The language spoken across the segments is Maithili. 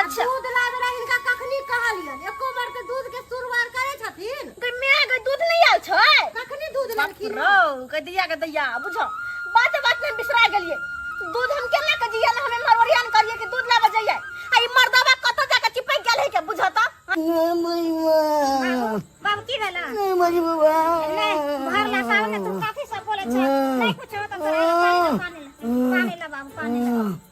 अच्छा दूध लाबे रहे इनका कखनी कहलियन एको बार के दूध के सुरवार करे छथिन ते मेरा के दूध नहीं आल छै कखनी दूध लेलखिन रौ के दिया के दैया बुझो बात बात में बिसरा गेलिए दूध हम केना के जिया ना हमें मरवरियान करिए कि दूध लाबे जाइए आ ई मर्दावा कत जाके चिपक गेल है के बुझो त बाबू की भेला मरी बाबा ले भर ला सावन तू काफी सब बोले छै नहीं कुछ हो त तोरा पानी ला पानी ला बाबू पानी ला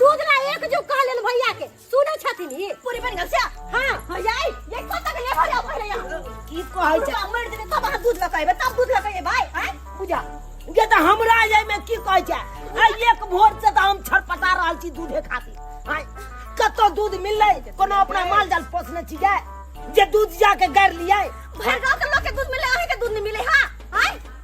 दूध ला एक जो कह लेन भैया के सुनै छथिन ई पूरी बन गेल से हां भैया ये कत तक ले भैया पहिले यहाँ की कहै छै पूरा मर देबे तब अहाँ दूध लकैबे तब दूध लकैबे भाई हैं बुझा जे तऽ हमरा जाय में की कहै छै आइ एक भोर से तऽ हम छटपटा रहल छी दूधे खातिर आइ कतौ दूध मिललै कोनो अपना माल जाल पोसने छी जे जे दूध जाके गाड़ि लियै भर गांव के लोग के दूध मिले अहीं के दूध नहीं मिले हां हैं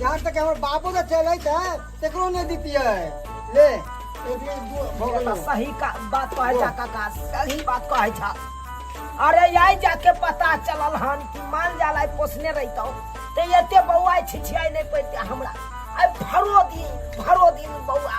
यहाँ तक हमर बापो जे चलै त तकरो नै दितियै ले सही का बात कहै छा काका सही बात कहै छा अरे यही जाके पता चलल हन कि मान जाला पोसने रहितौ ते एते बौआ छिछियाई नहीं पड़ते हमरा आई भरो दिन भरो दिन बौआ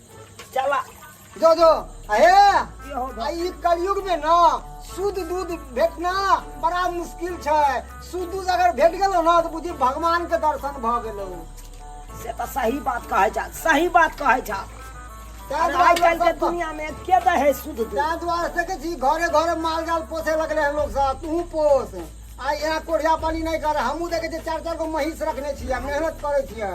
चला जो जो अहे आई कलयुग में ना शुद्ध दूध भेटना बड़ा मुश्किल छै शुद्ध दूध अगर भेट गेलो ना तो बुझी भगवान के दर्शन भ गेलो से तो सही बात कहे जा सही बात कहे जा आज कल के दुनिया में के दे है शुद्ध दूध तार द्वार से के जी घरे घरे माल जाल पोसे लगले हैं लोग सब तू पोस आ यहाँ कोढ़िया पानी नहीं कर हमू देखे चार चार गो महींस रखने छियै मेहनत करे छियै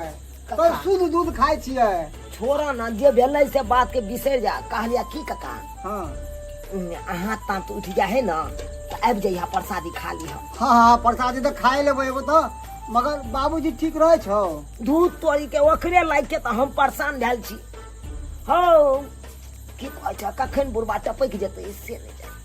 कका शुद्ध दूध खाइ छियै छोड़ा ना जे भेलै से बात के बिसरि जा कहलिया की कका हाँ अहाँ ताँत उठ जा है ना तऽ आबि जइहा प्रसादी खा लिह हाँ हाँ प्रसादी तो खाए लेबै एगो तो मगर बाबूजी ठीक रहे छौ दूध तोड़ी के ओकरे लागि के तऽ हम परेशान भेल छी हौ की कहै छ कखन बुढ़बा टपकि जेतै से नहि जानै